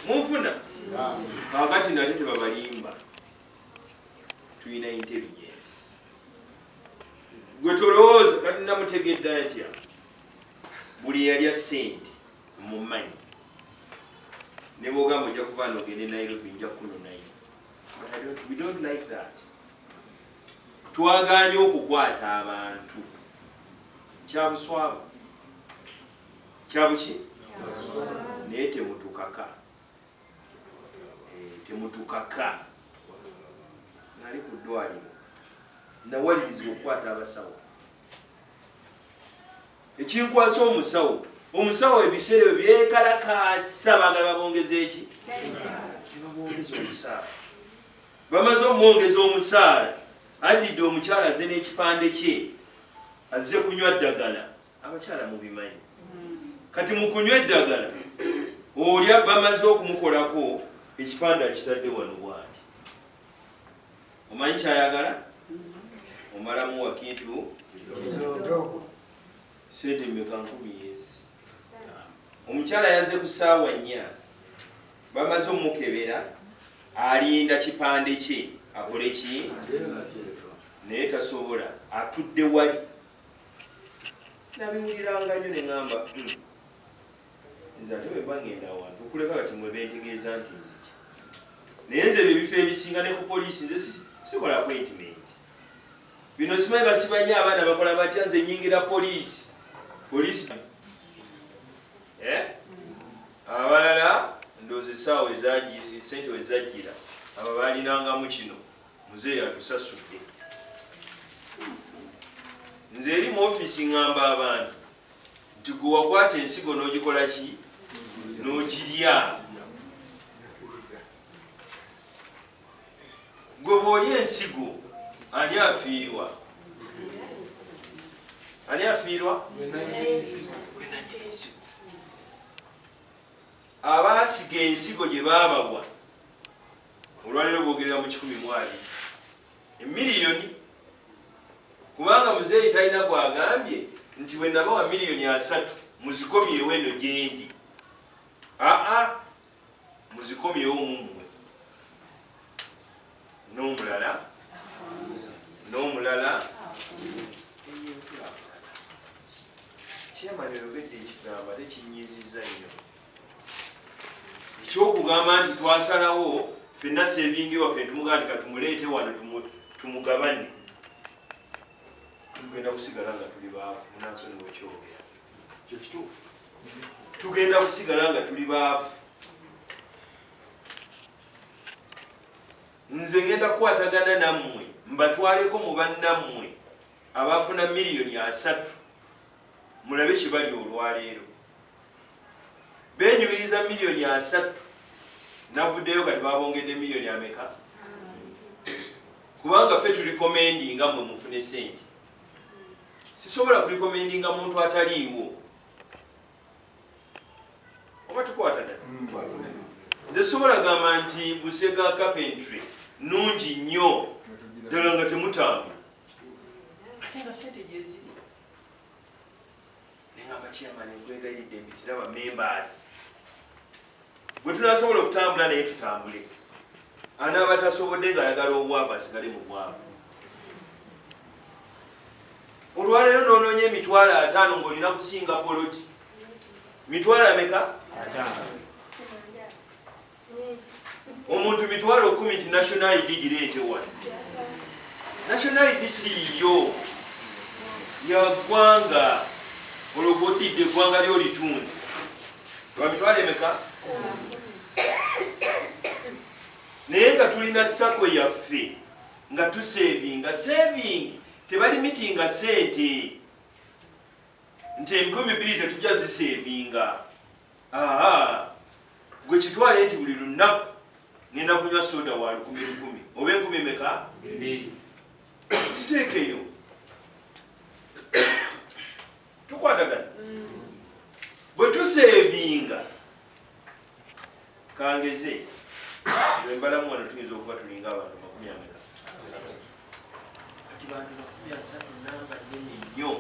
munfuna kakati nate tebabalimba tulina intelligence gwe tolowooza kati namutegedda ntya buli eyalya sente mumanyi nebwogamba ojja kuba nogende nairobi nja kunonayo we don't like that twaganye okukwata abantu kyabuswavu kyabuki naye temutukaka eh, temutukaka nali ku ddwaliro nawalirizibwa okukwata abasawo ekinkwasa omusawo omusawo ebiseera ebyo byekalakaasa bagala babongeza eki tebabongeza omusaala bamaze omwongeza omusaala addidde omukyala aze n'ekipande kye azze kunywa ddagala abakyala mubimanyi kati mukunywa eddagala olya bamaze okumukolako ekipande akitadde wano bwati omanyi kyayagala omalamu wakintu sente meka nkumi yesi omukyala yaze ku saawa nnya bamaze omukebera alinda kipande kye akole ki naye tasobola atudde wali nabiwuliranga nnyo ne ŋamba hmm, nze ate bwe mbangenda awantu okuleka kati mwe bentegeeza nti nzija naye nze bye bifo ebisinga ne ku poliisi nze sikola appointment bino simanyi basibanye abaana bakola batya nze nyingira poliisi poliisi eh? abalala ndoozi esaawa sente wezajjira abo balinangamu kino Muzeeyi atusasudde. Nze eri mu ofiisi ngamba abantu nti gwe wakwata ensigo n'ogikola ki n'ogirya gwe bw'olya ensigo ani afiirwa ani afiirwa abaasiga ensigo gye baabawa Olwaleero boogerera mu kikumi mu abiri emiliyoni kubanga muzeeyi talina gwagambye nti bwe nabawa miliyoni asatu muzikomyewo eno gyendi aa muzikomyewo mumwe n'omulala n'omulala kyemani oyogedde ekigambo ate kinyiizizza nnyo ekyokugamba nti twasalawo fenna sevingi waffe ntumugaa nti katumuleete wano tumugabanye tugenda kusigala nga tuli baavu munansoni wekyogera kyo kituufu tugenda kusigala nga tuli baavu nze ngenda kukwatagana nammwe mbatwaleko mu bannammwe abaafuna miliyoni asatu mulabe kibali olwaleero benyumiriza miliyoni asattu navuddeyo kati babongedde miliyoni ameka kubanga ffe tulikomendinga mwe mufune sente sisobola kulikomendinga muntu ataliiwo oba tukwata da nze sobola gamba nti busega carpentry nungi nnyo ddala nga temutanga ate nga sente gyeziri nengamba chairman nkwegayiridde mpitira ba members bwe tunasobola okutambula naye tutambule anaaba tasobodde ng'ayagala obwavu asigale mu bwavu olwaleero noonoonya emitwalo ataano ng'olina kusinga poloti mitwalo ameka omuntu mitwalo kumi nti national id gireete wano national id siiyo yagwanga olwo gwodidde eggwanga lyolitunzi wamitwalo emeka naye nga tulina sako yaffe nga tusevinga saving tebali mitinga sente nti enkumi bbiri tetujja zisevinga gwe kitwale nti buli lunaku ngenda kunywa soda wa lukumi lukumi oba enkumi meka ziteekeyo tukwatagana mm. bwe tuseevinga kangeze embalamu wano tuyinza okuba tulinga abantu makumi ameka kati bantu makumi asatu namba nene nnyo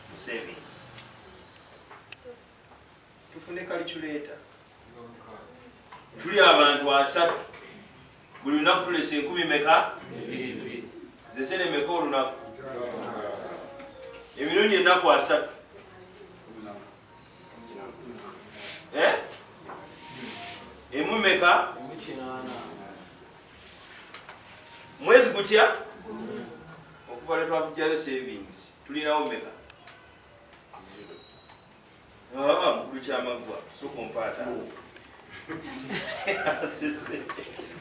mu savings tufune kaliculeeta tuli abantu asatu buli lunaku tulesa enkumi meka zesene meka olunaku emirundi ennaku asatu eh? emu meka mwezi gutya okuva lwetwavujjayo savings tulinawo meka mukulu kyamaggwa soka ompaata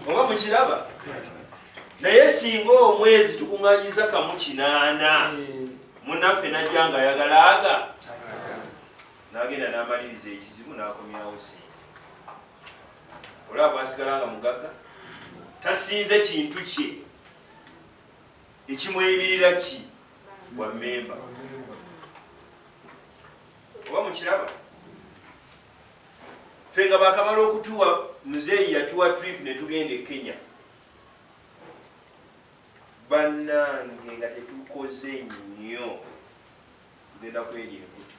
oba mukiraba naye singa omwezi tukuŋanyiza kamu kinaana munaffe najja nga ayagala aga nagenda namaliriza ekizibu nakomyawo si olaba bwasigala nga mugagga tasinze kintu kye ekimweyimirira ki bwa memba oba mukiraba fe nga bakamala okutuwa muzeeyi yatuwa trip ne tugenda e kenya bannange nga tetukoze nnyo tugenda kweri enkuti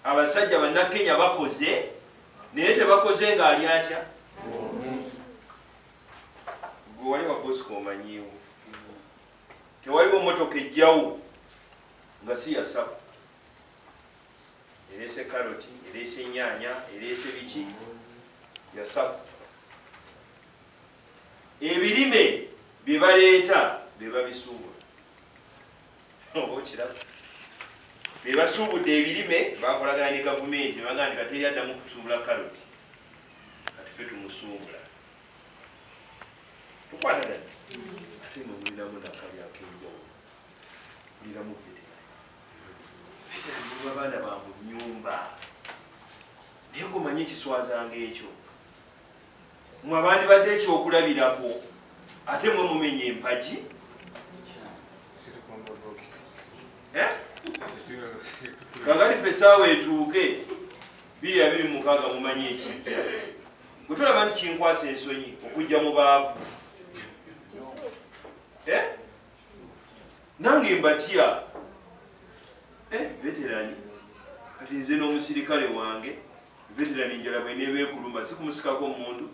abasajja bannakenya bakoze naye tebakoze ng'ali atya gwe wali wabosika omanyiwo tewaliwo motoka ejjawo nga si yasabu ereese karoti ereese enyaanya ereese biki yasabu ebirime bye baleeta be babisuubula oba okiraba be basuubudde ebirime bakolagana ne gavumenti ne baganda kateri addamu kutusuubula karoti katufe tumusuubula tukwanagana ate nga mulinamu nakali akenjawo mulinamu veteranveteranmuba abaana ba mu nyumba naye gomanye ekiswazanga ekyo mwe abandibadde ekyokulabirako ate mwe mumenya empagi eh? kakati fe esaawa etuuke biri abiri mukaaga mumanyi ekijja bwe tulaba nti kinkwasa ensonyi okujja mu baavu eh? nange mbatya eh, veterani kati nze n'omusirikale wange veterani njala bweneeba ekuluma sikumusikako omundu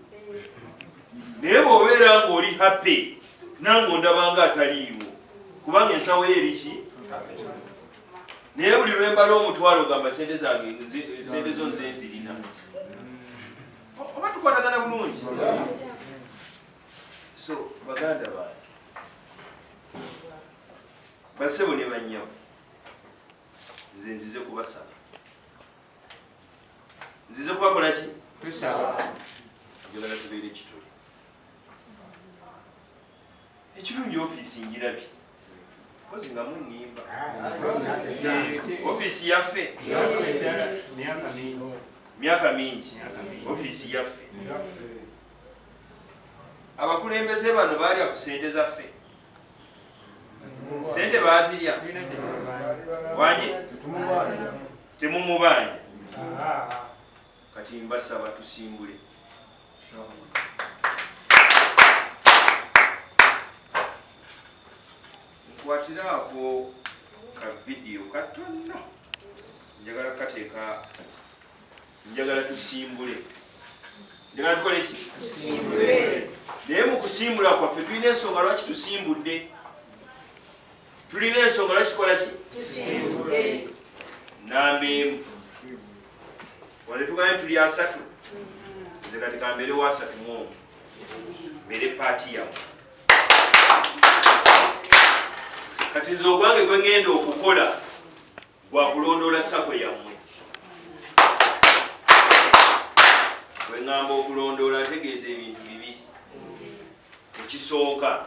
naye bwobeera ngaoli happy nange ondabanga ataliiwo kubanga ensawo yo eriki naye buli lwembala omutwalo ogamba sente zange sente zo nze nzirina oba tukwatagana bulungi so baganda bange basebo ne banyabo nze nzize kubasaba nzize kubakola ki njagala tubeere ekitole ekirungi ofiisi ngirabi kozi nga munimba ofiisi yaffe myaka mingi ofiisi yaffe abakulembeze bano baalya ku sente zaffe sente baazirya wanye temumubanja kati mbasaba tusimbule nkwatiraako ka vidiyo katonno njagala kukateeka njagala tusimbule njagala tukole ki naye mu kusimbula kwaffe tulina ensonga lwaki tusimbudde tulina ensonga lwaki tukola ki namemu wale tugambye tuli asatu nze kati kambeere wasatu mwomu mere paati yamu kati nze ogwange gwe ngenda okukola gwakulondoola sako yammwe gwe ngamba okulondoola ategeeza ebintu bibiri ekisooka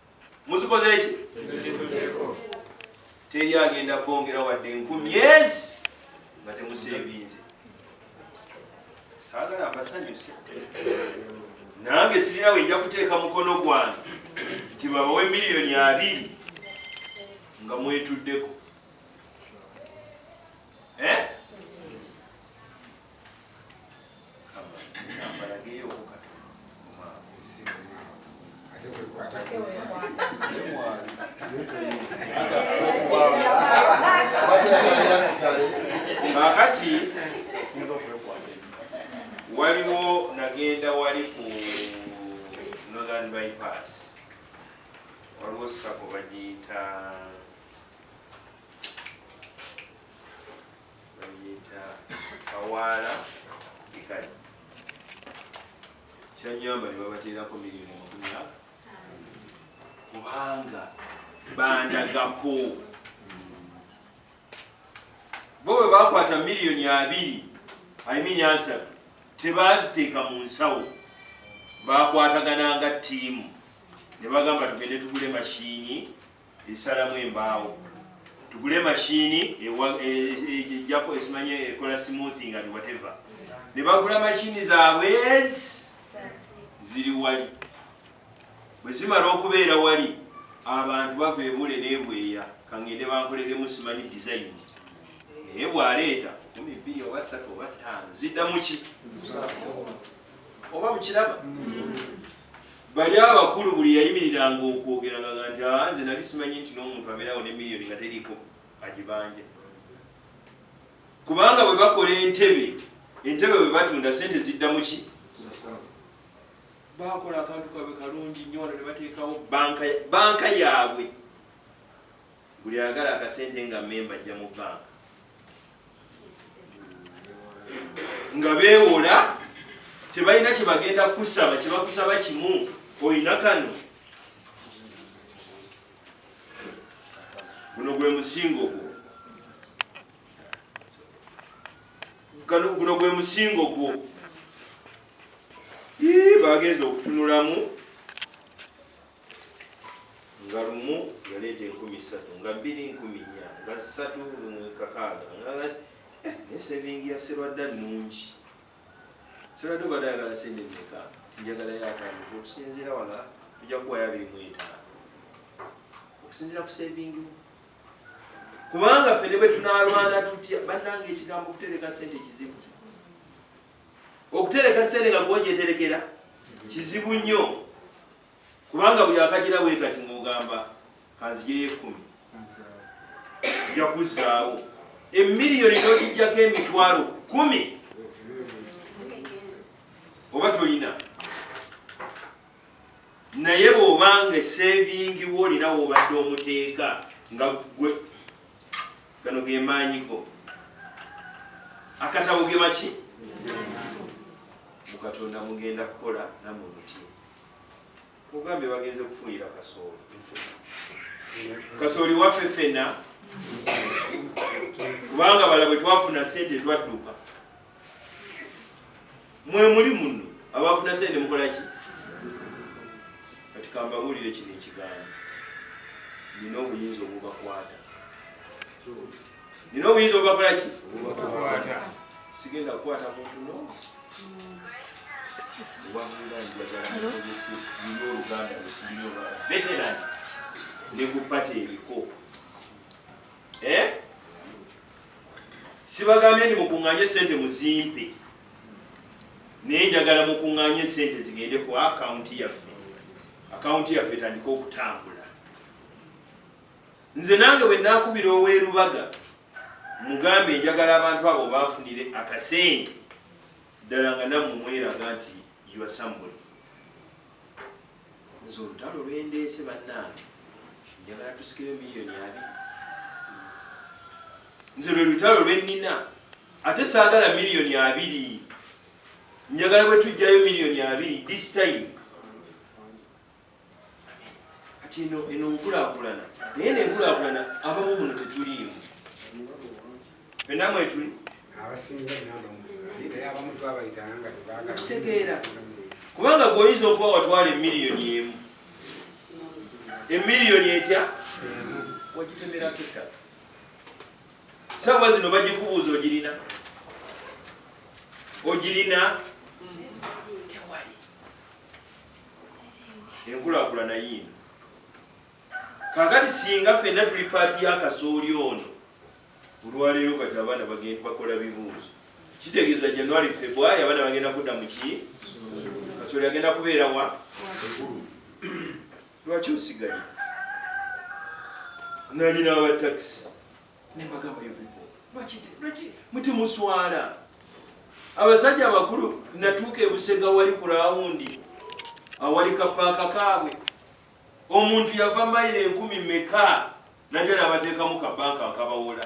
muzikoze ki teri agenda bongera wadde enkumi ezi nga temuseebinze saagala mbasanyuse nange sirina wenja kuteeka mukono gwange nti babawe miliyoni abiri nga mwetuddeko eh? kakati waliwo nagenda wali ku northern bypass waliwo sako bagiyita kawaala bikali kyanyamba ne babateerako mirimu makumi aga kubanga bandagako bo bwe bakwata miliyoni abiri aimini asatu tebaziteeka mu nsawo bakwatagananga ttiimu ne bagamba tugende tugule mashiini esalamu embaawo tugule mashini ejjako esimanye ekola smoothing and whatever ne bagula mashini zaabwe ziri wali bwe zimala okubeera wali abantu bava ebule nebweya kangende bankoleremu simanyi design naye bwaleeta kumi bbiri oba ssatu oba ttaano ziddamuki oba mukiraba mm. Bali abakulu buli yayimiriranga okwogera nga nti ah, nze nali simanyi nti n'omuntu abeerawo ne miliyoni nga teriiko agibanja kubanga bwe bakola entebe entebe bwe batunda sente zidda muki bakola akantu kabwe kalungi nnyo wano ne bateekawo banka yaabwe buli ayagala akasente nga memba ajja mu banka nga beewola tebalina kye bagenda kusaba kye bakusaba kimu olina kano guno gwe musingo gwo kano guno gwe musingo gwo bagenza okutunulamu nga lumu yaleeta enkumi ssatu nga bbiri nkumi nnya nga ssatu kakaaga nga eh, ne sevingi ya serwadda nnungi serwadda obadde ayagala sente meka njagalayo ataano okusinziira wala tujja kuwayo abiri mu etaano okusinziira ku sevingi kubanga ffe ne bwe tunaalwana tutya bannanga ekigambo okutereka sente kizibu okutereka sente nga gwojeterekera kizibu nnyo kubanga buli akagira bwe kati ng'ogamba kanzijeyo ekkumi ojja kuzzaawo emiliyoni n'ogijjako emitwalo kumi oba tolina naye bw'oba nga esevingiwo olina woobadde omuteeka nga gwe gano ge maanyi go akatabo ge maki mu katonda mugenda kukola namwe muti ogambye bagenze kufunira kasooli kasooli waffe fena kubanga bala bwe twafuna sente twadduka mwe muli muno abafuna sente mukola ki kati kambabuulire kino ekigambo nina obuyinza obubakwata nina obuyinza obakola ki sigenda kukwata muntu no veteran nekupata ebiko eh? sibagambye ndi mukunganye sente muzimpe naye njagala mukunganye sente zigende ku akawunti yaffe akawunti yaffe etandika okutambula nze nange bwe nakubira owerubaga mugambe njagala abantu abo banfunire akasente ddala nga namu mweraga nti yuasambuli nze olutalo lwendeese bannange njagala tusikire miliyoni abi nze lwe lutalo lwennina ate saagala miliyoni abiri njagala bwe tujjayo miliyoni abiri this time kati eno eno nkulakulana naye nenkulakulana abamu muno tetuliimu fena mwetuli okitegeera kubanga gweoyinza okuba watwala emiliyoni emu emiliyoni etya wagitemerako ettaka saawa zino bagikubuuza ogirina ogirina enkulaakulana yiino kakati singa fenna tuli paati ya kasooli ono olwaleero kati abaana bagenda bakola bibuuzo kitegeeza january february abaana bagenda kudda muki kasooli agenda kubeerawa lwaki osigaye nalina abatakisi nembagamba yo pipo lwaki lwaki mutimuswala abasajja abakulu natuuka ebusega wali ku rawundi awali kapaaka kaabwe omuntu yava mayiro enkumi meka naja nabateekamu kabanka akabawola